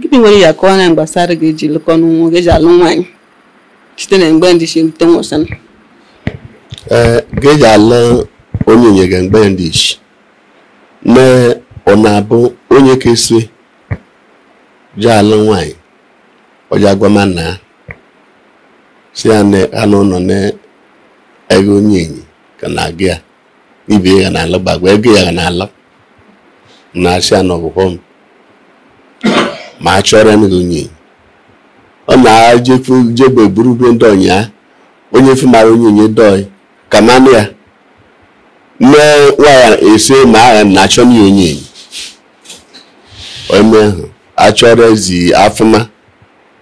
gịnị nwere ya kọọ anyị gbasara ga eji lụkọ n'ụmụ ga eji alụ nwaanyị site na mgbe ndị ishi rute nwụsịna ee ga eji alụ onyenye ga mgbe ndị ishi na ọ na-abụ onyeke esi ji alụ nwaanyị ọ ja agwa ma na si ya na anụ ụlọ na ego onyenye ga na-aga ya ibe ya na-alụ gbagwa ego ya na-alụ na-asị ya na ọgwụgwọ m ma achọrọ m gị onyenye ọ na-ejefu jebe buru be ndị ọnya onye fumara onyenye dọị ka manụ ya nne nwa ese ma agha na achọ m ya onyenye ome ahụ achọrọ ezi afụma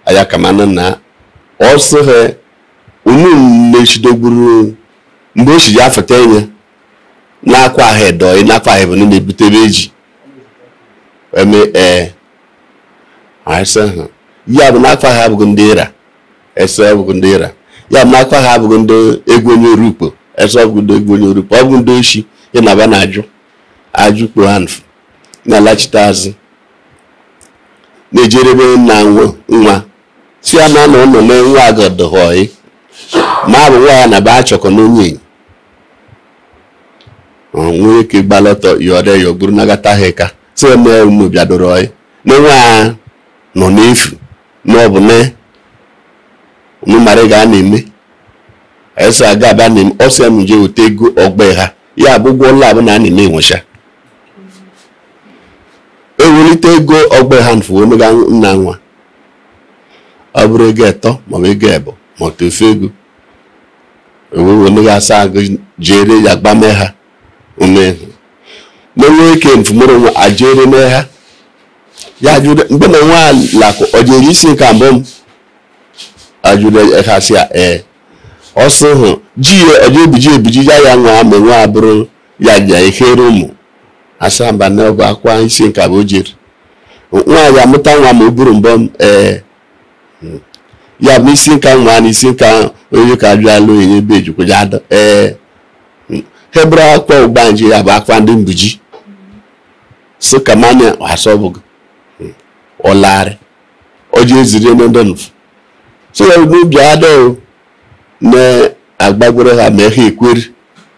aya ka manụ na ọ sị ha unu na-echidogburu mgbe o shi ji afụta enye na akwa ha dọị na akwa ha ebene na-ebutebe eji eme ee ese ha ya bụ na akwa ha abụghị ndị ịra ese abụghị ndị ịra ya bụ na akwa ha abụghị ndị egwu onye oru ukpo ese ọ bụghị ndị egwu onye oru ukpo ọ bụghị ndị oshi ya na ba na-ajụ ajụ kpo ha nfu na-alachite azụ na-ejerebe nna nwa si ya na na ụlọ na nwa agadọghọị ma abụ nwa ya na ba achọkọ n'onye nwee ike gbalọtọ yọrọ ya buru nagata ha ka si ya na unu bịadoro ọyị na nwa ya nọ n'efu na ọ bụ na unu mara ga a na-eme esi aga abịa na ọ sị ya m je wete ego ọgba ha ya bụ ụgwọ ụlọ abụ na a na-eme enwecha ewelite ego ọgba ha nfu o nye ga nna nwa ọ bụrụ ego etọ maọbụ ego ebo ma tofe ego ewewemeghe asa agụ jere ya gbame ha ume menwe ike mfumụrụ nwa ajere mee ha ya jụrụ mgbe na nwa lakụ ọ jere isi nke mbụ m ajụrụ ha si ya ee ọ sị hụ ji ya ọ ga-ebiji ebiji ya ya nwa ma nwa abụrụ ya ja ehere ụmụ asaa mba na ọgụ akwa isi nke abọ jere nwa ya amụta nwa ma o buru mbọ m ee hmm. ya bụ isi nka nwa na isi nka onye ka bịa alụ onye ebe ejikwaja ada ee hmm. ha bụrụ akwa ụgbanje ya bụ akwa ndị mbuji si ka manya asọbụgị hmm. ọlarị ọjị eziri onye ndị nfu so ya n'obi ada na agbagwere ha ma ha ekweri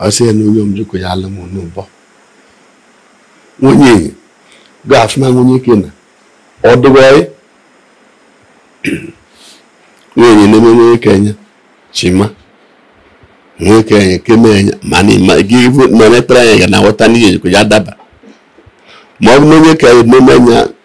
ọ sị ya na onye ọ m jeko ya alụ m n'ụbọ nwunye ga-afụma nwunye ike na ọdụgọị nwunye na-eme nwunye kenye chima nwunye kenye keme enye mana gị na mepere anya ga na-aghọta na ihe ejeko ya adaba ma ọ bụ na onye ka ememe anya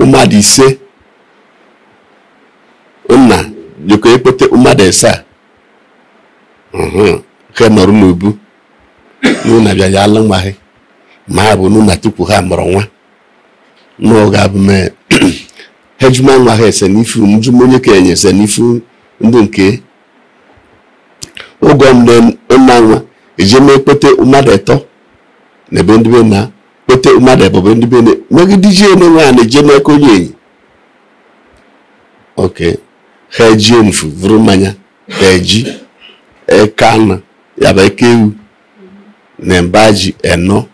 mmadụ ise nna jeko ekpete mmadụ ise ha nọrọ n'obu n'ụna bịa ya alụ nwa ha ma ha bụ n'ụna tupu ha mụrụ nwa n'oge abụ mee ha ajụma nwa ha ese n'ifu njụma onye ka enye ese n'ifu ndị nke oge ọmụde nna nwa ejeme ekpete mmadụ etọ na be ndị be nna kpete mmadụ ebọ be ndị be nne megide ji ene nwa na-eje n'aka onye enyi oke ha eji mfu vuru mmanya ha eji eke anụ ya bụ eke ewu na mba ji enọ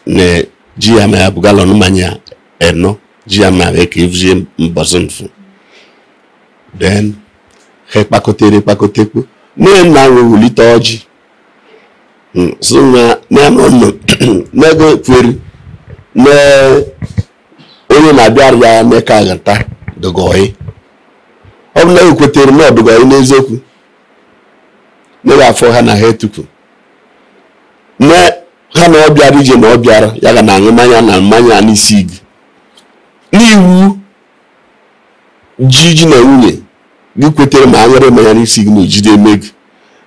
na ji ya ma ya bụ galọn mmanya enọ ji ya ma eke evuzie mbọsị mfu then ha kpakọtere kpakọtekwu nne nna wee wulite ọjị hmm, so na n'anụ nọ na gị kweri na onye na-abịara ya mee ka aghọta adụgoyi ọ bụ na gị kwetere na ọ dụgoyi n'eziokwu na ga-afụ ha na ha etupu na ha na ọ bịara ije na ọ bịara ya ga na aṅụ mmanya na mmanya n'isi gị n'iwu ji ji na nwunye gị kwetere ma aṅụrụ mmanya n'isi gị na ejide eme gị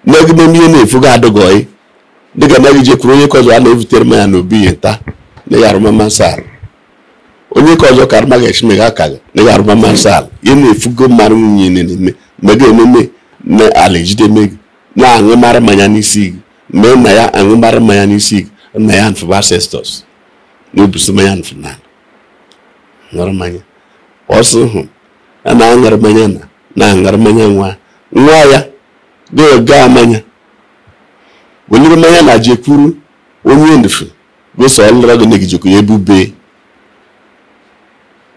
nne gị n'eme ihe na-efu gị adụgoyi dịka na gị jekwuru onye ka ọzọ a na-ebutere mmanya n'obi ya nta na ya arụmama nsọ ala onye ka ọzọ ka arụma ga-echime gị aka gị na ya arụmama nsọ ala ihe na-efugo mmadụ nwunye na-eme ma gị ememe na ala ejide eme gị na-aṅụmara mmanya n'isi gị mee na ya aṅụmara mmanya n'isi gị na ya nfụ ancestors na-ebusi mmanya nfụ na ṅụrụ mmanya ọsọ hụ a na-aṅụrụ mmanya na na-aṅụrụ mmanya nwa nwa ya ga-aga mmanya weliri mmanya na jekwuru onye ndufu gosi ọlụra gị na gị jeko ya ebube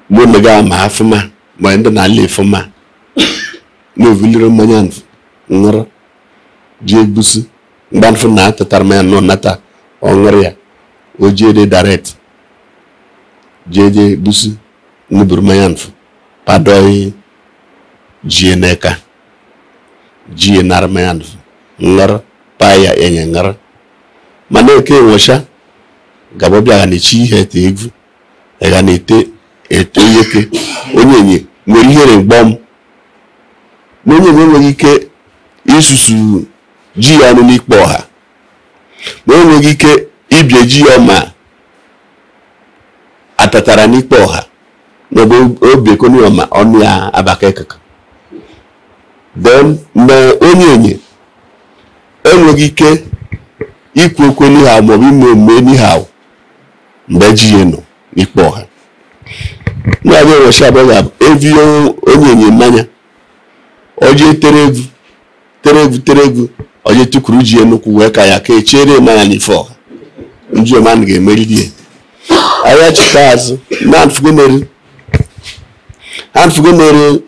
mụ na gị ama afụma ma ndị na-ala afụma na o vuliri mmanya nfu ṅụrụ jee egbusi mgbe nfu na atatara mmanya nọ nata ọ ṅụrụ ya o jee dị direct jee jee egbusi nuburu mmanya mfu padoi ji ya n'eka ji ya nara mmanya mfu ṅụrụ paa ya enye ṅụrụ mana eke enwecha gaba bịa ga na-echi ihe ete egwu ga na-ete eto nwoke onyenye nwere ihere mgbọm na onyenye enweghị ike isusu ji ya ọnụ n'ikpo ọha na o nweghị ike ibie ji ya ọma atatara n'ikpo ọha n'ebe o biekoni ọma ọnụ ya abaka ekeke then mgbe onyenye enweghị ike ikwu okwu n'ihe ahụ maọbụ ime omume n'ihe ahụ mgbe ji ya nọ n'ikpo ọha na-abịa ụbọchị abụọ ga-abụ evu onyenye mmanya o je etere egwu tere egwu tere egwu o je tukuru ji ya n'ukwu wee ka ya ka echere mmanya n'ifu ọha njuoma na ga-emeri di ya ahịa cheta azụ na anfugonere anfugonere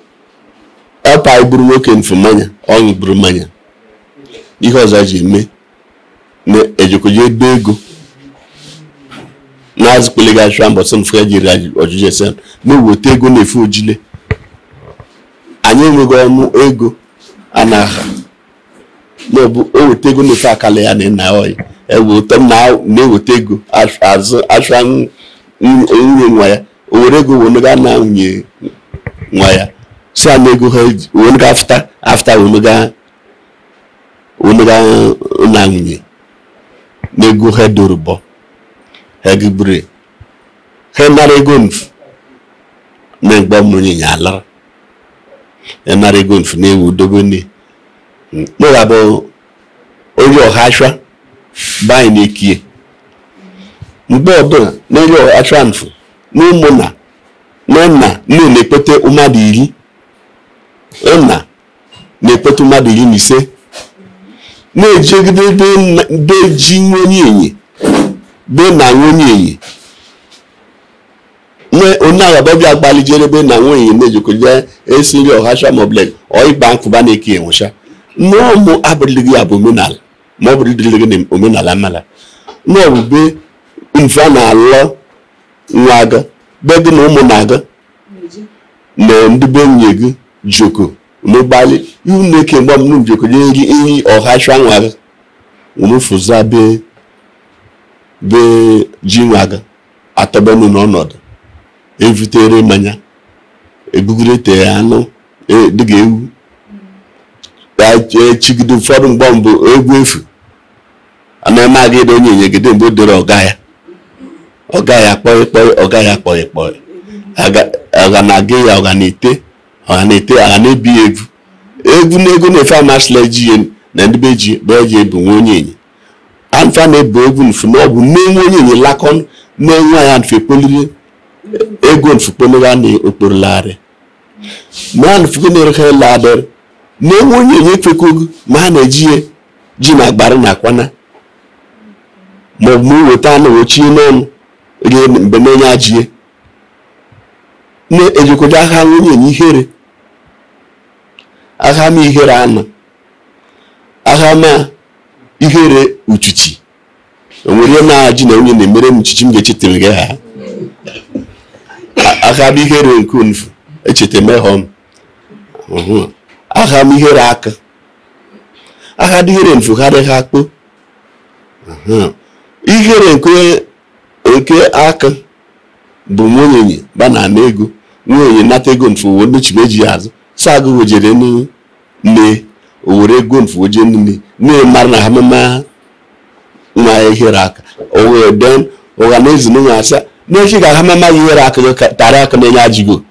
ọ paa buru nwoke mfu mmanya ọ ṅụ buru mmanya ihe ọzọ ji eme na-ejekoje ebe ego na-azụ kpele ga achụ mbọsị mfu ya jiri ọjụjụ ese na-eweta ego na-efu ojile anyị enweghị ọnụ ego a na-aha maọbụ e weta ego na-efe akala ya na ịna oyi ewe ụtọ m na-eweta ego azụ achụ anwụ nwunye nwa ya o were ego wee ga na nwunye nwa ya si a na ego ha wee ga after after wee ga na nwunye na ego ha dorobọ ha gị buru ha nara ego nfu na mgbe mmiri ya alara ya nara ego nfu na-ewu dobe nne mụra bụ onye ọha achwa banyị na-ekie mgbe ọbụla n'elu ọchụ nfu n'ụmụnna na nna nne na-ekpete mmadụ iri na na-ekpote mmadụ iri na ise na-ejegide be ji onyenye be nna onyenye nwe onye agaba bịa gbalijere be nna nwunye enyi na-ejikọje esi nri ọhacha maọbụ ọịkpa nkụba na-eke enwecha nnọọ mụ abụrịlịghị ya bụ omenala ma ọ bụrụ dịrịlịghị na omenala mala n'ọ bụ be mfu a na-alụ nwa gị be gị na ụmụnna gị na ndị be nwunye gị joko n'ụgbalị ihu na-eke mgbọm njoko nye gị iyi ọha chụ anwara nwụfụza be be ji nwa gị atọbenu n'ọnọdụ evutere mmanya ebugoro te anụ e, dịga ewu echigide ụfọdụ mgbe mbụ egwu efu anaghị aga ebe onye nyegide mgbe o dere ọ ga ya ọ ga ya kpọị kpọị ọ ga ya kpọị kpọị ọ ga na-aga ya ọ ga na-ete ọ ga na-ete a ga na-ebi ya ego ego na ego nfu amasịla eji ya na ndị be ji bụ eji ebu nwa onyenyi anfa na-ebu ego nfu na ọ bụ nne nwa onyenyi lakọ na nwa ya nfu ekpoliri ego nfu kpoliri a na okporolagharị ma a na-efugo na-erekọ ele adịrị na nwa onyenyi ekwekogo ma a na-eji ji na agbara na akwana ma ọ bụ ma weta anụ ochie n'ọnụ rie mgbe na-enye ajie na-ejikọta aka nwunye enye ihere aka ma ihere anụ aka ma ihere uchichi o nwere na ji na nwunye na-emere uchichi m ga-echetara gị ha aka bụ ihere nke nfu echeta emehọ m aha m ihere aka aha bụ ihere nfu ha dịghị akpụ ihere nke aka bụ nwa onyenyi ba na ego nwa onyenyi nata ego nfu wee nnuchi meji ya azụ saa agụgụ jere mee o were ego nfu oje nne nne mara na ha mama nwa ya ihere aka o wee den ụgha na ezi nwa asa n'echi ga ha mama ya ihere aka gị ka- tara aka na-enye ajigo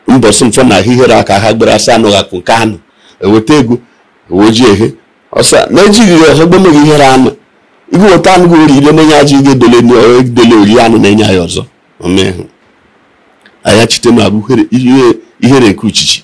mbọsị nfu na ihere aka ha gbere asa anụghị akụ nke anụ eweta ego oji ehe ọsa na ejighị ya ọzọ gbemeghị ihere anụ igu weta anụ gị ori ile na-enye aji gị edele edele ori anụ na-enye ya ọzọ omehụ aya chite na abụ ihere nke uchichi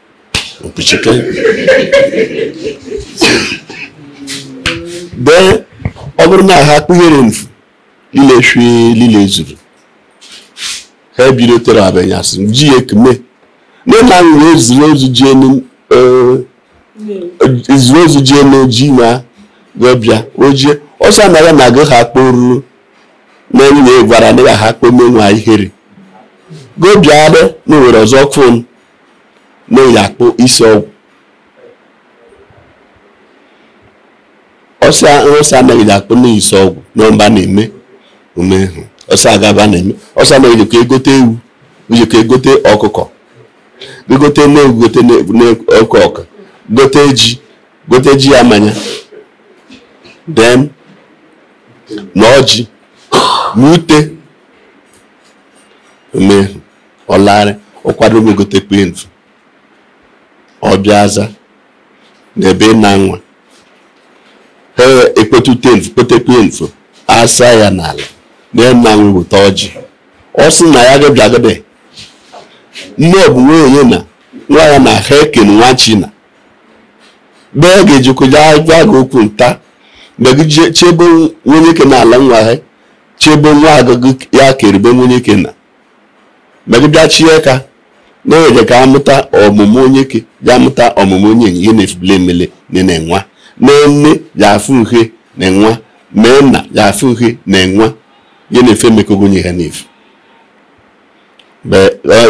mkpuchike dee ọ bụrụ na ha kpụ ihere nfu lile shwe lile zuru ha ebido tere abanyasị ji ekme nne na nwere ezuru ozu ji enu ezuru ozu ji enu ji ma gọbịa ojie ọsọ anaghị na agụ ha kporu na enyi ya gwara na ya ha kpụme nwa ihere gọbịa adị na nwere ọzọ kwun na-eyi akpụ isi ọgwụ ọsọ anaghị akpụ na isi ọgwụ na mba na-eme ume hụ ọsọ agaba na-eme ọsọ anaghị ejikọ egote ewu ejikọ egote ọkụkọ gote na-ewu gote na ọkụkọ gote ji gote ji ya manya den na ọjị na ute ume hụ ọ larị ọ kwadobe egote kpe nfu ọ bịa aza na ebe ị na nwa ha ekpote ute nfu kpete kpe nfu asa ya n'ala na ya na nwa weta ọjị ọ sị na ya gabịa agade nne ọ bụ nwunye na nwa ya na ha eken nwa china mgbe ọ ga-ejikọja agwa gị okwu nta mgbe gị chebe nwonyeke na ala nwa ha chebe nwa agụgụ ya keribe nwonyeke na ma gị bịa chie ka na-eje ka amụta ọmụmụ onyeke ya amụta ọmụmụ onyenye ihe nfu bule emele na na-enwa na nne ya afụ uhe na-enwa mee nna ya afụ uhe na-enwa ihe na-efe emekogo onye ha na-efu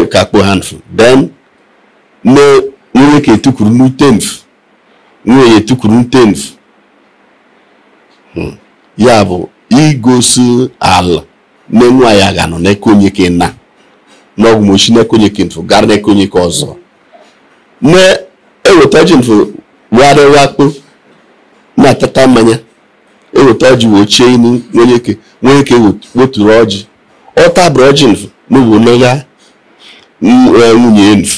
e, ka kpo ha nfu then nne nwonyeke etukuru n'ute nfu nwunye ya etukuru n'ute nfu hmm. ya bụ igosi ala na nwa ya ga-anọ n'eka onyeke na n'ọ bụ ma o shi n'eka onyeke nfu gara n'eka onyeke ọzọ na-eweta ọjị nfu warịa wakpo na-atata mmanya eweta ọjị wochie inu nwonyeke nwonyeke weturu ọjị ọ tabụrụ ọjị nfu n'ugbo n'ogha nwunye nfu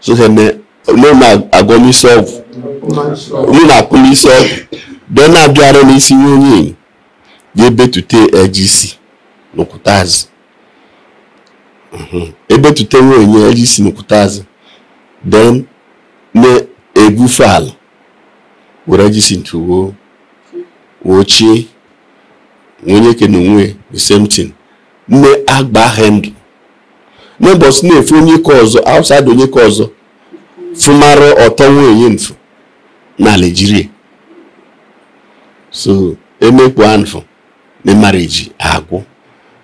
so na-agwọ m isi ọgwụ olu na-akụ m isi ọgwụ bịa na-abịara n'isi nwa onyenye ga-ebetute eji isi n'okwute azụ ebetute nwaanyị eji isi n'okwute azụ then na-egwufe ala were eji isi nfu wochie nwonyeke na onwe the same thing na-agba ha ndụ n'ụbọchị na-efu onyeke ọzọ outside onyeke ọzọ fụmara ọtọ nwunye nfu na ala jirie so emekpu anfụ na marriage agwụ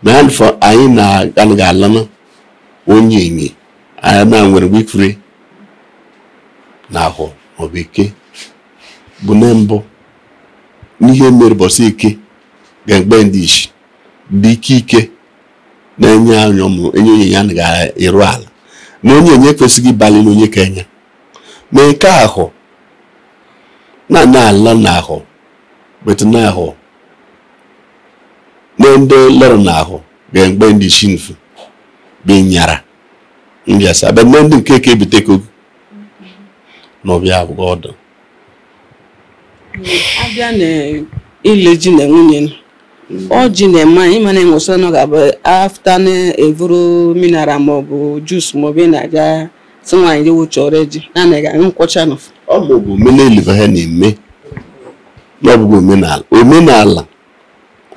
na anfụ anyị na-anaghị alanụ onyenye anyị na nwere wikiri n'ahọ maọbụ eke bụ na mbụ n'ihe mere bọsị eke ga-egbe ndị ishi dị ike ike na-enye anyị ọmụrụ enye onyenye anaghị eru ala na onyenye ekwesịghị ịbali na onye ka enye ma nke ahọ na-ana ala n'ahọ bete n'ahọ na ndị lụrụ n'ahọ ga mgbe ndị ishi nfu bụ nyara ndị asa abịa ndị nke eke ebute kogo na ọbịa abụghị ọdụ abịa na ile ji na nwunye ọjị na-eme anyị mana enwesịrị na ọ ga-abụ after na-evuru mineral maọbụ juice maọbụ ị na-aga si nwaanyị jewu chọrọ eji anaghị aṅụ nkwụ ọcha na ọ bụ omenala ha na-eme na ọ bụghị omenala omenala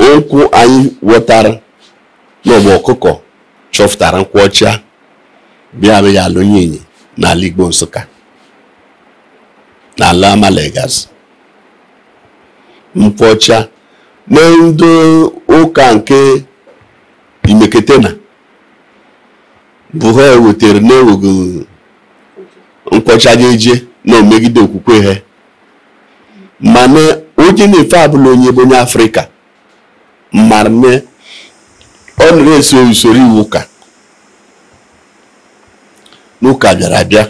okwu anyị wọtara na ọ bụ ọkụkọ chọfụtara nkwụ ọcha bịa abịa alụ onyenye n'ala Igbo Nsụka n'ala Amala Egazi nkwụ ọcha na ndị ụka nke imekete na bụ ha wetara na-enweghị nkwụ ọcha ga-eje na o megide okwukwe ha mana onye na-efe ọbụla onye bụ onye afrịka mara na ọ na-eso usoro iwu ụka na ụka bịara abịa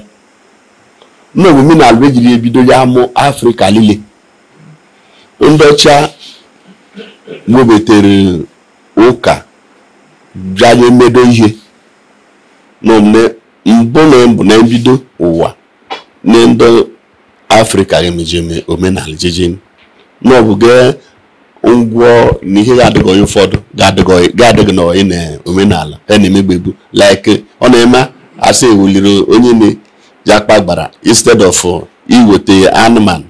na ọ bụ omenala ejiri ebido ya amụ afrịka niile ndị ọcha webetere ụka bịa je medo ihe na omume mbụ na mbụ na mbido ụwa na ndị afrịka ga-emejeme omenala jeje na ọ bụ gee ngwọ na ihe ga-adịghị onye ụfọdụ ga-adịghị na onye na omenala ha na-emegbebu like ọ na-eme asị eweliri onye na-ji akpa agbara instead of iweta anụmanụ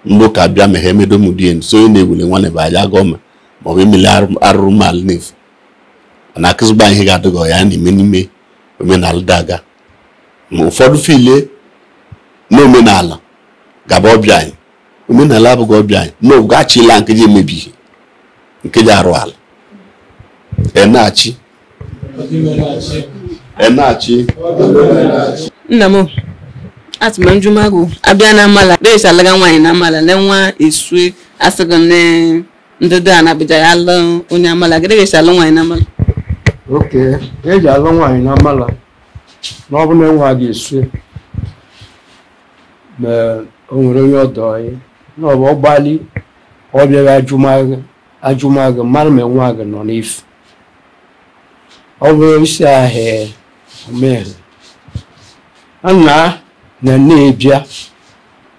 ndị ụka bịa ma ha emedomudien so onye na-ewuli nwanne bụ aja gọọma maọbụ emele arụrụ ala na-efu na akụzigba ihe ga-adịghị ya na-eme n'ime omenala daga ma ụfọdụ file n'omenala gaba ọbịa anyị omenala abụghị ọbịa anyị na ọ bụghị achịla nke ji emebi ihe nke ji arụ ala enachi enachi nna m atụma njụmagụ abịa na amala be esi alụga nwaanyị na amala na nwa esue a sị gị ndụdụ a na-abịja ya alụ onye amala gịdị be esi alụ nwaanyị na amala oke eji alụ nwaanyị na amala na ọ bụ na nwa gị esu ma o nwere onye ọdọ anyị na ọ bụ ọgbali ọ bịara ajụmagụ ajụmagụ mara ma nwa gị nọ n'efu ọ bụrụ isi ahịa omehụ nna na na-ebịa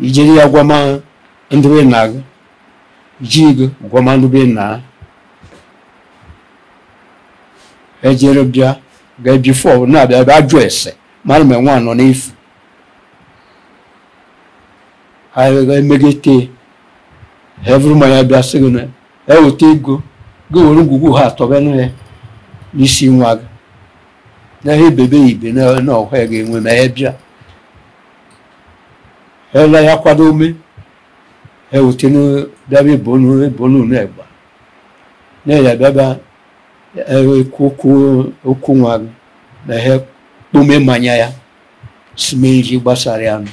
i jere ya gwama ndị be nna gị ji gị gwama ndị be nna ha ejere bịa ga before na-abịa bịa jụ ese mara ma nwa nọ n'efu ha emegete ha buru mmanya bịa sị gị na eweta ego gị were ngwugwu ha atọbenụ ya n'isi nwa gị na ha ebebe ibe na na ọhụ ya ga-enwe ma ya bịa ela ya kwadome ha wute na bịaba ebonu ebonu na egba na ya bịaba okwu okwu nwa gị na ha kpome mmanya ya sime nji gbasara ya nụ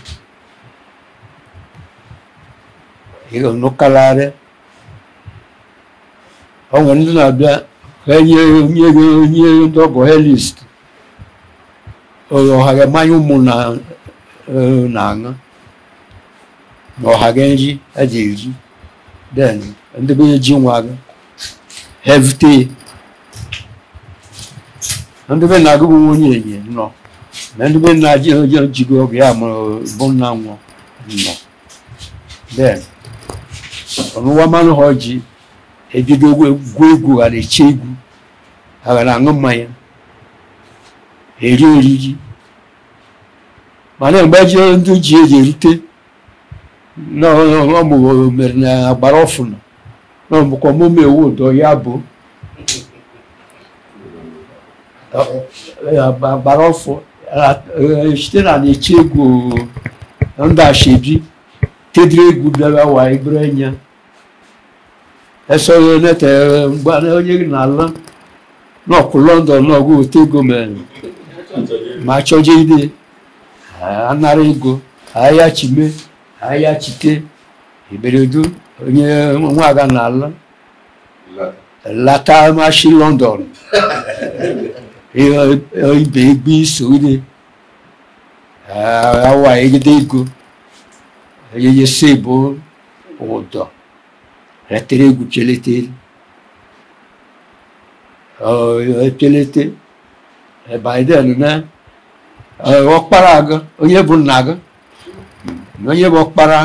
ihe ọnụkalarị ọ nwere ndị na-abịa ha enye ndị ọgọ ha list ọha ga mmanya ụmụnna na-aṅụ na ọha ga nri a ji eri then ndị be ji nwa gị ha evute. Ndị be nna gị bụ nwunye enye nọ na ndị be nna ji gị ọgụ ya mụrụ bụ nna nwa nọ then ọnụwa mmanụ ha ji ebido gwu egwu ha na-eche egwu ha ga na-aṅụ mmanya eri oriri mana mgbe ji ndị ji eji erute n'ọmụghị mere na agbara ọfụnụ na ọ bụkwa mụ mewu ụdọ ya bụ agbara ọfụ chite na na-eche egwu ndị ashebi tedịrị egwu bịara wa ibere anya esoro na-ete mgbe onye gị n'ala n'ọkụ London n'ọgụ otu ego mere ma chọje ide anara ego ahịa chime ahịa chite iberedu onye nwaga n'ala lata mashi London ibe egbe isogide awa egide ego eyeye sebo ụdọ etere egwu cheletere echelete then na ọkpara gị onye bụ nna gị na onye bụ ọkpara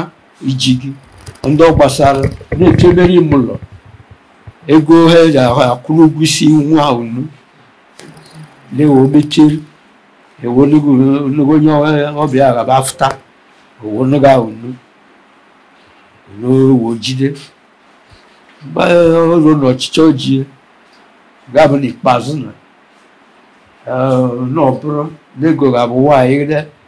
iji gị ndị ọ gbasara na-echebere ime ụlọ ego ha ji akwụrụ ụgwọ isi nwa unu na-ewe obecheri ewolugo onye ọbịa gaba afụta owonugo ahụ nu n'owo jide mgbe ọrụ na ọchịchị ojie ga-abụ n'ikpeazụ na na ọ bụrụ na ego ga-abụ nwaanyị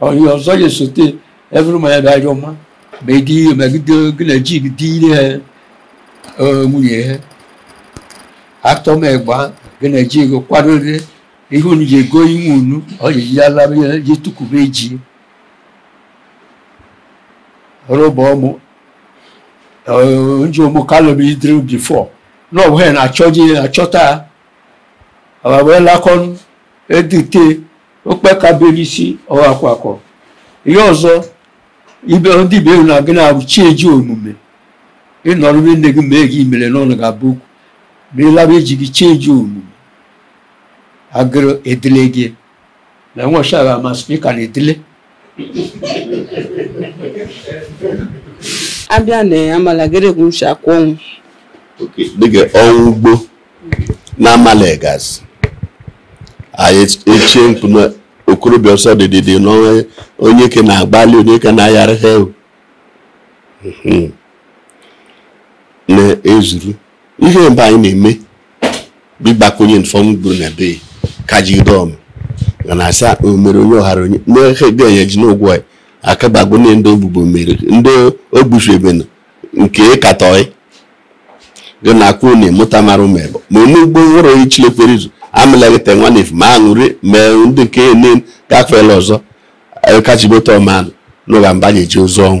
onye ọzọ ya esote evụrụ ma ya bịa ajọ mma ma ịdị ihe megide gị na ji gị dị ire nwunye ha atọ m egba gị na ji gị kwadoro ihe unu ji ego inwe unu ọ ji ji alaba ya ji tukwube ji rụba ọmụ nji ụmụ kalọm idiri before na ọ bụghị na achọji achọta wee lakọnụ edute okpekabelisi ọhakwakọ ihe ọzọ ibe ndị ibe na gị na-abụ chi eji omume ịnọrọ be nne gị mee gị imere n'ọnụ ga-abụ okwu ma ịla be ji gị chi eji omume agụrụ edele gị na nwaọcha ga-amasị ka na edele abịa na amala geregwu m si akwa ọnwụ dịka ọnwụ ugbo na amala gazi anyị echie mkpu na okorobịa ọsọ dịdịdị na onye ke na-agbalị onye ke na-ayara ha na-ezuru ihe mgbe anyị na-eme bụ ịgbakwu onye nfọ ọnwụ gburu na be ka ji dọm na na asa omere onye ọhara onye na-ehe dị anya ji n'ụgwọ ya akabagbo na ndị ogbugbo mere ndị ogbusu ebe na nke katọị gị na akwụ na emụta mara ụmụ ebe ma onugbo nwụrụ onye chilekwere izu amịlaghịta nwa na efu ma aṅụrị ma ndị nke ene gafeela ọzọ kachibote ọmanụ n'ụga mba na-eji ozu ọnwụ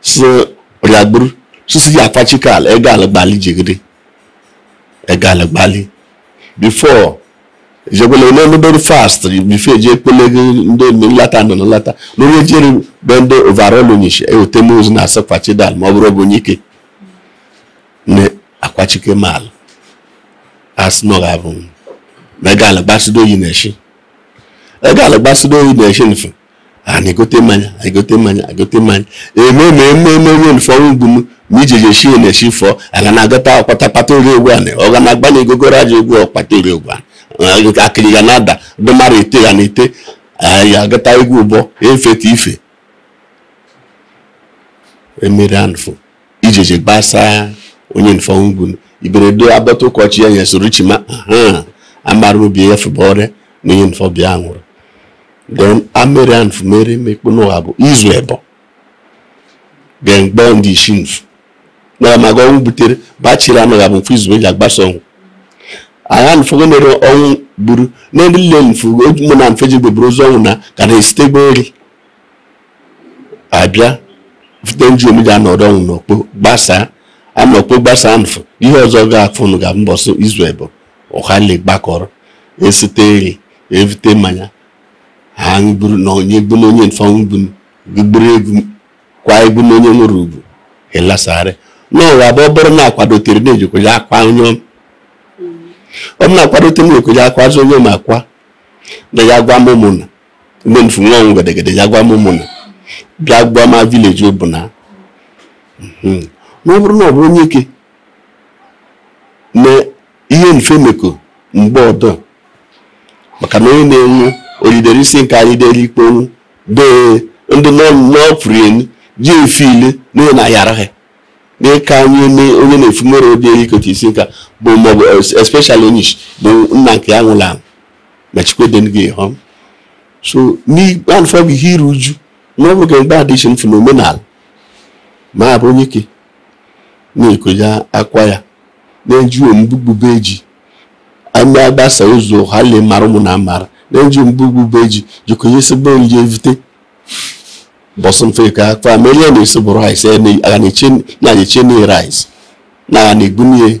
si rịagburu sisi gị akwachike ala ego ala gbali jigide ego ala gbali before jekwele onye mebere first before eji ekpele gị ndị nlata nọ na nlata na onye jere be ndị overall onyeshi eweta m ozu na-asị kwachidal ma ọ bụrụ bụ onye ike na akwachike m ala asị na ọ ga-abụ m na ego ala gbasido oyi na-eshi ego ala gbasido oyi na-eshi nfe a na-egote mmanya egote mmanya egote mmanya eme ma eme eme onye nfọ nwụnụ ma ije je shie na eshi fọ aga na agụta ọkpata kpata ori egwu anị ọ ga na agba na egogoro aja egwu ọkpata ori egwu anị akịrị ga na-ada ndị mara ete ya na ete ya agụta egwu ụbọ efeta ife emere anfụ ijeje gbasa onye nfọ nwụnụ iberedo agbata ụkọchị ya ya soro chima ha amara obi ya fụbọrịa na onye nfọ bịa nwụrụ then amere and fumere mekpo n'ụwa bụ izu ebo then gbọọ ndị isi nfu na maga ọnwụ butere bachiri amaghị abụ mfe izu eji agbasa ọnwụ agha nfọgo mere ọnwụ gburu na ndị nile nfu mụ na mfe ji gbeburu ozu ọnwụ na ka na-esite gberi abịa vute nji omi ji anọdọ ọnwụ anọkpo gbasaa anọkpo gbasaa nfụ ihe ọzọ ga-afụnụ ga mbọsị izu ebo ọha ile gbakọrọ esite eri evute mmanya ha gburu na onye gbu na onye nfụ ọnwụ gburu egwu kwa egwu na onye nwere ugwu elasarị n'ụwa bụ ọ bụrụ na akwadotere na-eje ịkwa ya akwa onye ọma na akwadotere na-eje ịkwa ya akwa azụ onye ọma akwa na ya gwama ụmụnna ndị nfụ nwe ọnwụ gedegede ya gwama ụmụnna bịa gwama village ọbụna hmm. na ọ bụrụ na ọ bụ onyeke na ihe nfụ emeko mgbe ọdọ maka na onye na-enwu oyidere isi nke anyị dere ikpe ọnwụ dee ndị n'ọpụrụ elu ji efe ile na na yara ha n'ịka anyị onye nfụ mere obi eri ikote isi nka bụ maọbụ especially onye isi bụ nna nke ya nwụla ma chikweden gị hụ so n'ikpe alụfa bụ ihe iru uju na ọ bụ ga mgbe addition nfụ n'omenala ma ọ bụ onyeke na-eje ịkwa ya akwa ya na-eji ombugbube eji ame agbasa ụzọ ọha ile mara ụmụnna amara na-eji ombugbube ji jikọnye sebe onye evute mbọsị nfụ ka akwa ma ele na-esi bụrụ rice na-eche na rice na-egbu n'ihe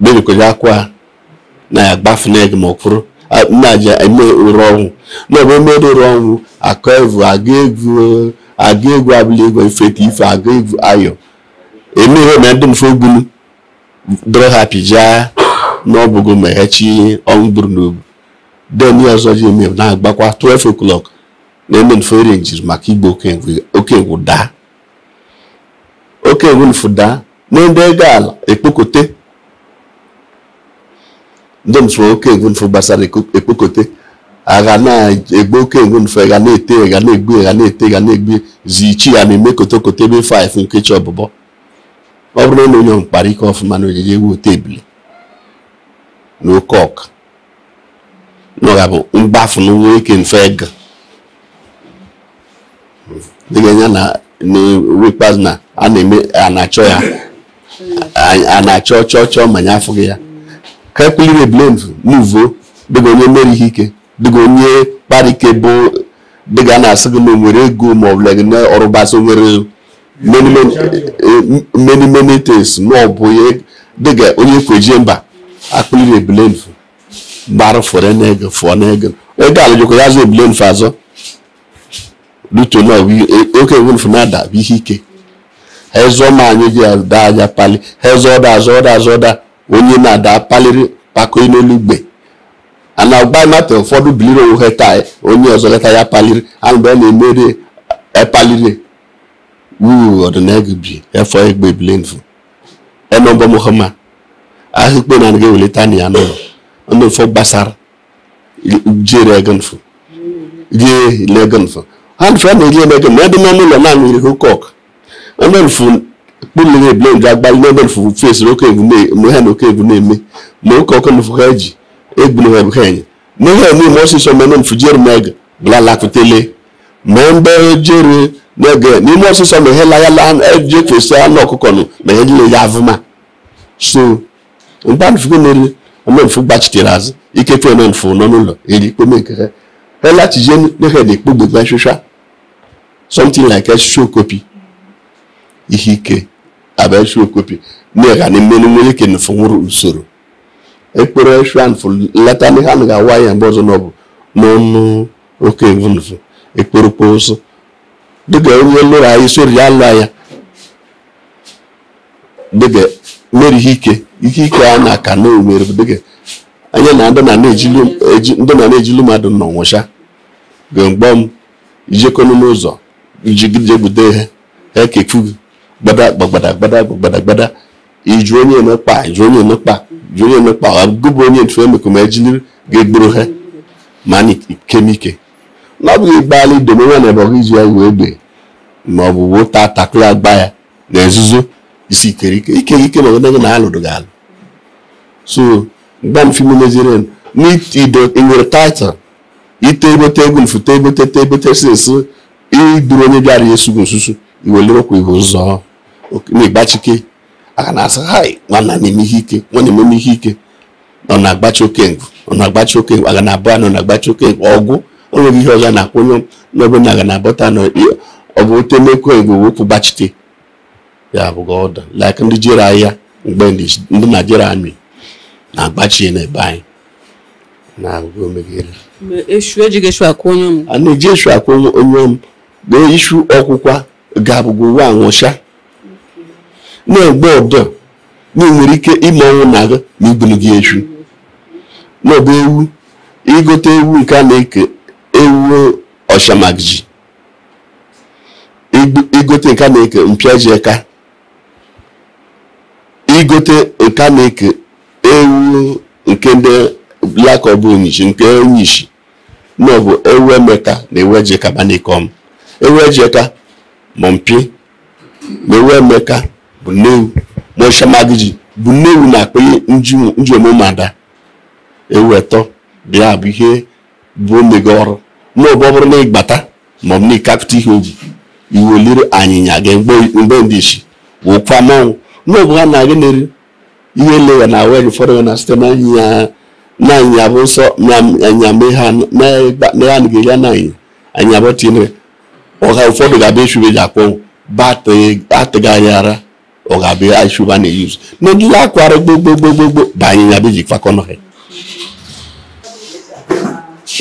bere ịkwa ya akwa na ya gbafu n'ego ma ọ kwụrụ na eji eme ụrụ ọnwụ na ọbụ emere ụrụ ọnwụ akụ egwu agụ egwu abụla egwu ifeta ife aga egwu ayọ emeghe na ndị nfụ ogbunu dịrọ happy ya na ọ bụgo ma echi ọnwụ gburu n'obu den ya ọzọ ji eme na-agbakwa 12 o'clock na eme nfụ arrange-ri maka igbe oke egwu daa oke egwu nfụ daa na nde ga ala ekpokote ndom sụọ oke egwu nfụ gbasara ekpokote a ga na-egbu oke egwu nfụ a ga na-ete ga na-egbu ga na-ete ga na-egbu zichi ya na-eme kotokote ebe 5 nke chi ọbụbọ ọ bụrụ na onye m kparị ike ọfụma na o jije ewu ote ebule na oke ọkpa na ọ ga-abụ mgbafu na nwoke nfụ ego dịka anya na wikpaz na a na a na-achọ ya a na-achọ chọọ chọọ ma ya afụghị ya ka ekuliri ebule muvo dịka onye mere ihe ike dịka onye kparị ike bụ dịka a na-asị gị na o nwere ego ma ọ bụla gị na ọrụbasị o nwere many many eh, many many things na ọ bụ ihe dịga onye kweje mba akpụliri ebule mfu gbara fọrọ n'ego fọọ n'ego ego ala jikwa ya zụ ebule mfu azọ luto na oke ewu mfu na-ada bụ ihe ike ha ezụọ ma anyị ji ada aja pali ha ezụọ ọda azụ ọda azụ ọda onye na-ada paliri pako n'elu ugbe a na-agba mata ụfọdụ biliri onwe ha taa onye ọzọ leta ya paliri ahụ mgbe a na-emeri paliri wuu ọdịnagụ bi efọ egbe ebule mfụ eme mbọ mụkọma ahụ ikpe na anaghị ewelite na ya n'ụlọ ndị mfọ gbasara jere ego mfụ rie ile ego mfụ ha mfụ a na-eri ego ma ebe n'ọnụ ụlọ na-aṅụ iri cock ndị mfụ kpụlere ebule nje agbalị n'ebe mfụ fesiri oke egwu na-eme ha na oke egwu na-eme ma oke ọkụ mfụ ha ji egbu na ha bụ ha enye n'ihe eme ọsịsọ mene mfụ jere m ego bụla lakụtele mee mgbe jere n'oge n'ime ọsịsọ ma ihe layala eji efesi anụ ọkụkọ nụ ma ihe niile ya avụma so mgbe mfugo mere omemfu gbachitere azụ ike fe omemfu nọ n'ụlọ eri ikpome nke ha elachizie n'ehe na ikpogbe gba shusha something like a show copy ihe ike abịa show copy na-ega na mmenu nwere ike nfụ nwụrụ usoro ekpere shwan fụ leta n'ihe a na-awa ya mgbe ọzọ n'ọbụ n'ọnụ oke evunuvu ekporokpo ụsụ dịka onye lụrụ anyị sori ya lụọ ya dịka mere ihe ike ihe ike a na aka na omere dịka anya na ndị na na-ejilu mmadụ nọ nwụcha gemgbe m ijekọnụ n'ụzọ iji jegbude ha ekefu gbada gbagbada gbada gbada gbada iju onye emekpa iju onye emekpa iju onye emekpa ọ bụ bụ onye ntu emekọ ma ejili ga-egburu ha ma na ikemike na ọ bụghị igbaala idomewa na ebọghị izu ya wee egbe ma ọ bụ wota takụla agba ya na nzuzo isi ikere ike ike ike ma ọgụdagụ na alụdụ gị alụ so mgbe m fimu meziri n'ido nwere title ite ebote egwu mfute ebote te ebote si nso iduru onye bịara ya esugo nsusu iwelirokwa ihe ụzọ na-egbachike aka na-asị hai nwanna na-eme ihe ike nwanna eme ihe ike nọ na-agbachi oke ngụ nọ na-agbachi oke ngụ aga na-abụ anọ na-agbachi oke ngụ ọgwụ onweghị ihe ọga na-akwụ onye n'ebe na aga na-abọta nọ ọ bụ ote mekọ igbo wepụ gbachite ya bụ ọ dụ like ndị jere agha mgbe ndị Nigeria army na-agbachi n'ebe anyị na-agụgụ omeghere a na-eji eshu akwụ onye ọm na-eji eshu akwụ onye ọm na-eji eshu ọkwụkwa ga-abụgo wa anwụcha na-egbe ọdọ na enwere ike ime ọnwụ nna gị ma igbunu gị eshu n'ọbụ ewu igote ewu nke a na-eke ewu ọshamagji igote nke a na-eke mpịaji eka igote nke a na-eke ewu nke ndị black ọbụ onyishi nke onyishi na ọ bụ ewu emeka na ewu ejeka ba n'ike ọm ewu ejeka ma mpi ma ewu emeka bụ nne ewu ma ọshamagiji bụ nne ewu na-akpọ ndị ụmụada ewu etọ bịa bụ ihe bụ omega ọrụ n'ọbụ ọ bụrụ na ịgbata ma ọ bụ na ịkakụta ihe oji iweliri anyịnya ga na be ndị isi wụkwa mmanwụ ma ọ bụ ha na-agị na-eri ihe ele ya na e nwere ụfọdụ ga na site na anyịnya bụ nsọ na anya mee ha na ya nụghị ya na anyịnya bụ tinyere ọha ụfọdụ ga-abịa eshu be ji akpọ atịghị anya ara ọ ga-abịa eshu ba na-eyuzu na ndị akwara gbogbogbogbo ba anyịnya bụ ji kwakọnọ ha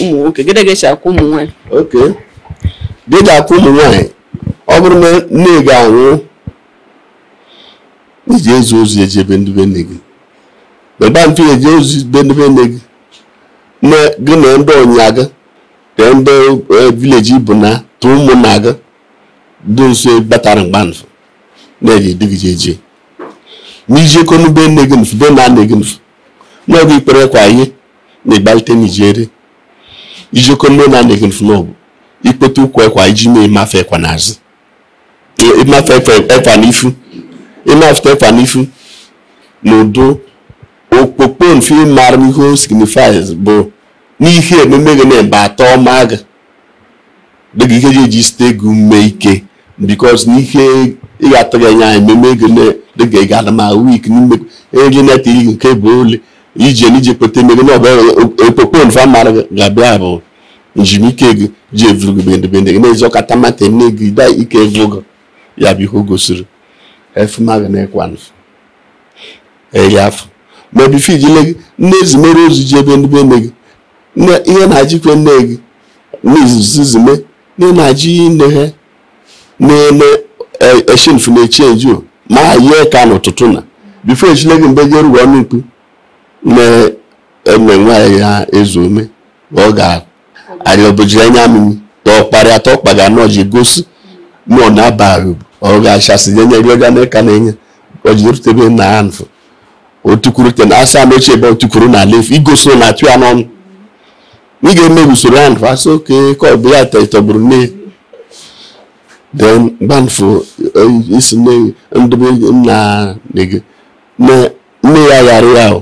ụmụ nwoke gịnị ga-eji akwa ụmụ nwaanyị oke gịnị ga-akwa ụmụ nwaanyị ọ bụrụ na nne gị anwụ ije ezi ozi eje be ndị be nne gị beba mfe eji ozi be ndị be nne gị na gị na ndị ọnya gị na ndị eh, village bụ na tụ ụmụnna gị dị nso batara mgbanfụ na-eji dị gị eje na ije ekonu be nne gị nfu be nna nne gị nfu n'ọbụ ikpere ekwa ihe na-egbalite n'ijere ije ekonu be nna nne gị nfu n'ọbụ ikpete ukwu ekwa iji mee mafe ekwa n'azụ ịmafe ekwa n'ifu ịmafe ekwa n'ifu na udo okpokpo nfu ịmara ihe o signifies bụ n'ihe ememe gị na-ebe atọ ọma gị dịka ihe ji eji site gị ume ike because n'ihe ị ga-atụ gị anya ememe gị dịka ị ga-ada ma weak n'ime ego neta iri nke bụ ole ije n'ije kpete emego na ọbụ okpokpo nfu amara ga-abịa bụ nji ume ike gị ji evuru gị be ndị be nne gị na-eji ọkata mata nne gị da ike evu gị ya bụ ihe o gosiri efumaga na ekwa nfu eri afọ ma before ijile gị nne ezimere ozi je be ndị be nne gị ihe na-ajikwe nne gị n'izizime nne na-ajị nne ha na-eme eshi nfu na-echi eji o ma yie ka n'ụtụtụ na before ejile gị mgbe jerugo ọnụ ikpu na enwe nwaanyị ya ezu ome ọ ga-arịọbụji anya mmiri tọkparịa tọkpa ga anọ ji gosi ma ọ na-aba ọ ga-achasị nye nyere oge na ka na-enye ọ ji erutebe na ya nfụ o tukwuru te na asa na ochie ebe o tukwuru na ala efu igosi na atụ ya n'ọnụ ị ga-eme usoro ya nfụ asị oke ka ọ bụ ya tọgburu nne then gbanfụ isi ndebe nna nne ya ghara ya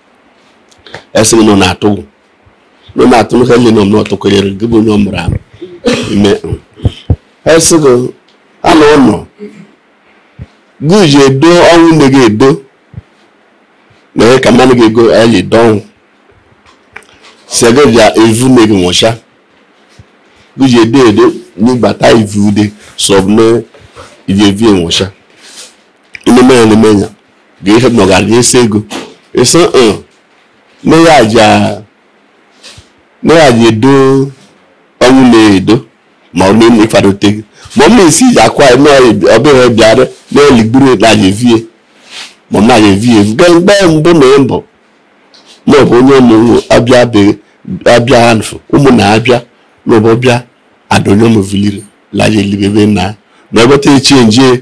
esi gị nọ na-atụ nọ na-atụ m ka nne nọ m n'ọtụkọnyere gị bụ onye ọ mụrụ amụ ime esi gị anọ nọ gị ji edo ọnwụ nne gị edo na ihe ka mmanụ gị ego eli edo ọnwụ si gị bịa evu nne gị nwụcha gị ji edo edo n'ịgbata ivu ude sọbụ na iji evi nwụcha ị na-eme ya na-eme ya ga ihe ma ọ ga-aga esi ego ịsị uh nne ya aja nne ya aja edo ọnwụ na-edo ma ọ na-eme ịfadote gị ma ọ ma esi iji akwa ya nọọ ya ọbịa bịara na-eligburu ya na-aja evie ma ọ na-aja evie evu gaa mgbe mbụ na mbụ ma ọ bụ onye ọmụmụ abịa be- abịa anfụ ụmụnna abịa ma ọ bụ ọbịa adonye ọmụviliri laja elibe ebe na na ọ bụ te chi ejie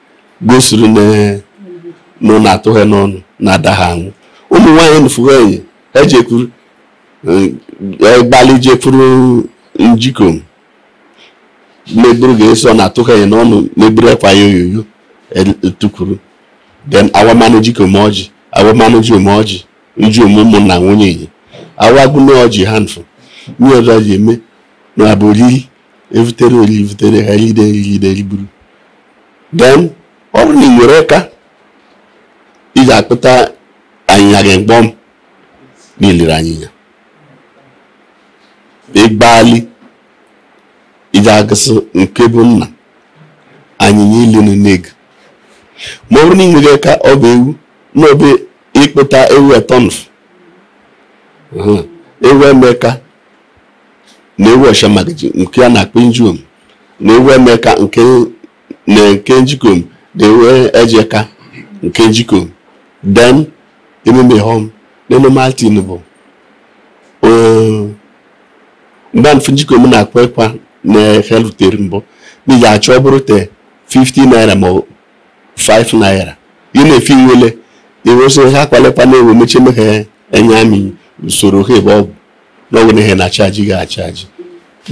gosiri na nọ na-atụghị n'ọnụ na-ada ha anwụ ụmụ nwaanyị nụfụghị enyi ejekwuru egbali jekwuru njikom meburu ga-eso na-atụghị enyi n'ọnụ meburu ekwa yoyoyo etukwuru then awama njikom ọjị awama njiom ọjị njiom ụmụnna nwunye enyi awagụna ọjị ha nfụ nye ọzọ ji eme na abụri evutere ori evutere ha ride eride riburu then ọ bụrụ na ị nwere eka ị ja-akpụta anyịnya gị mkpọm na eliri anyịnya ịgbali iji agụsị nke bụ nna anyịnya ili nne gị ma ọ bụrụ na ị nwere eka ọ bụ ewu na ọ bụ ịkpụta ewu etọ nfụ ewu emeka na ewu ọsha magaji nke a na-akpọ njiom na ewu emeka nke na nke njikom na ewu ejeka nke njikom then ememe hom na normal thing bụ gbanfụ njikom na-akwa ekwa na helutere mbụ ma ị ja-achọ ọ bụrụ te 50 naira ma 5 naira ya na efi nwele iwesị ha akwale ekwa na-ewe mechi emeghe enye amị usoro ha ebe ọ bụ na ọnwụ na ihe na-achaji gị achaji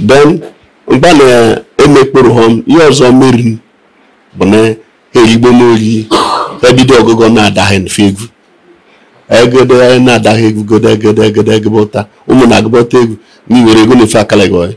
then mgba na-emekpụrụ ha ihe ọzọ merini bụ na ha eyigbo n'oyi ebido ọgụgụ na-adaghị mfe egwu egede na-adaghị egwu gode egede egede egebe ụta ụmụ na-agụbọta egwu n'iwere ego na-efe akala gị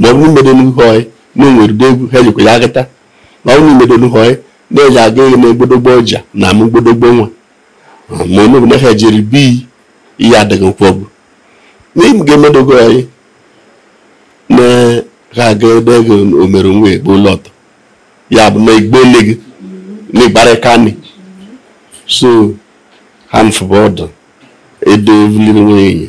ma ọ bụrụ mmedo n'ihu ọyị na o nwere ụdị egwu ha jikwa ya agata ma ọ bụrụ mmedo n'ihu ọyị na-eji aga eghe na egbodogbo ọja na ama egbodogbo nwa ma onye ọbụla ha jiri bi ihe adịghị nkwụ ọgwụ n'im ga-emedogo ọyị na ha aga ebe ego omere nwa egbo ụlọ ọtọ ya bụ na igbo lee gị na ị gbara aka na ị so ha mfụba ọdụ edo evuliri nwanyị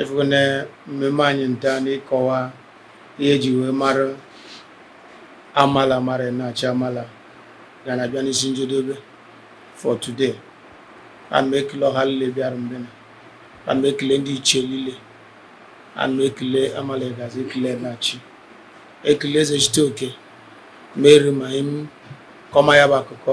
efugo na mmemme anyị nta na ịkọwa ihe eji wee mara amala mara enachi amala ga na-abịa n'isi njedebe for today ana m ekele ọha niile bịara mbena ana m ekele ndị ichie niile ana m ekele amala egazi ekele enachi ekele eze chite oke mere ma im kọma ya bụ akụkọ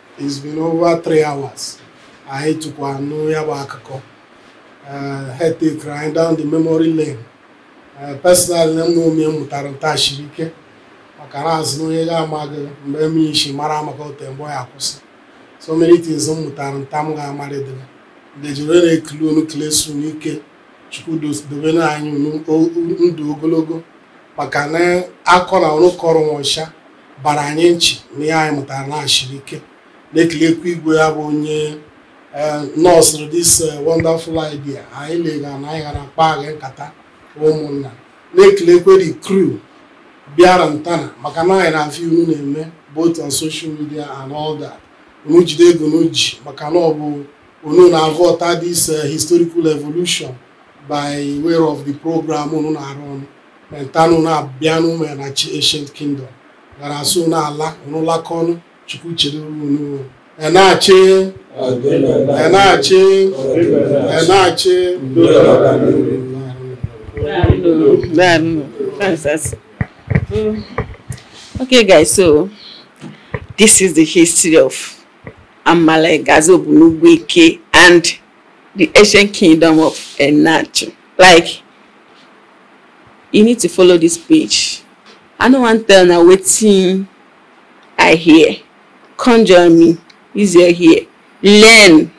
It's been over three hours. Anyị tukwu anụ ya bụ akụkọ. Eh, ha tekere anyị down the memory lane. Eh, Personally, na ihe m mụtara nta shiri ike maka na a sị na onye ga-amaghị mbe mii shi mara ama akọte mbe ọ ya-akwụsị. So many things m mụtara nta m ga-amarịdịrị. Ndị jiri na-ekele unu kelesie unu ike. Chukwu dos- dobe na anyị unu o- ndụ ogologo maka na akọ na unu kọrọ nwa ọcha bara anyị nchị na ihe anyị mụtara na shiri ike na-ekelekwa igwe ya bụ onye eh, nọọsụrụ this eh, wonderful idea anyị lega na anyị ga na-akpaga nkata ụmụnna na-ekelekwa the crew bịara ntana maka na anyị na-afụ ihe unu na-eme both on social media and all that unu jide ka unu ji maka na ọ bụ unu na-avọta this eh, historical evolution by way of the program unu na-arụ ọnụ Nta na unu abịa n'ime Enachi Ancient Kingdom gara asụ n'ala unu lakọ ọnụ chukwu chere unu enachi enachi enachi Okay, guys, so this is the history of Amala Egazi Obunugwueke and the ancient kingdom of Enachi. like you need to follow this page i no wan tell na wetin i hear come join me use your ear learn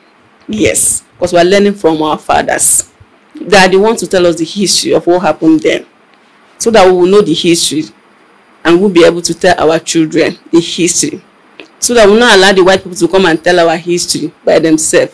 yes because we are learning from our fathers that they want to tell us the history of what happened then so that we will know the history and we'll be able to tell our children the history so that we will not allow the white people to come and tell our history by themselves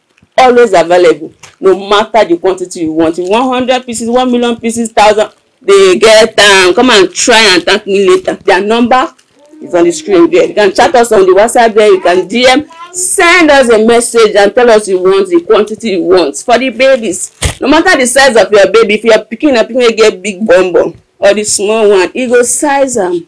always available no matter the quantity you want if one hundred pieces one million pieces thousand they get am um, come and try and thank me later their number is on the screen there you can chat us on the whatsapp there you can dm send us a message and tell us you want the quantity you want for the babies no matter the size of your baby if your pikin na pikin get big bum bum or the small one e go size am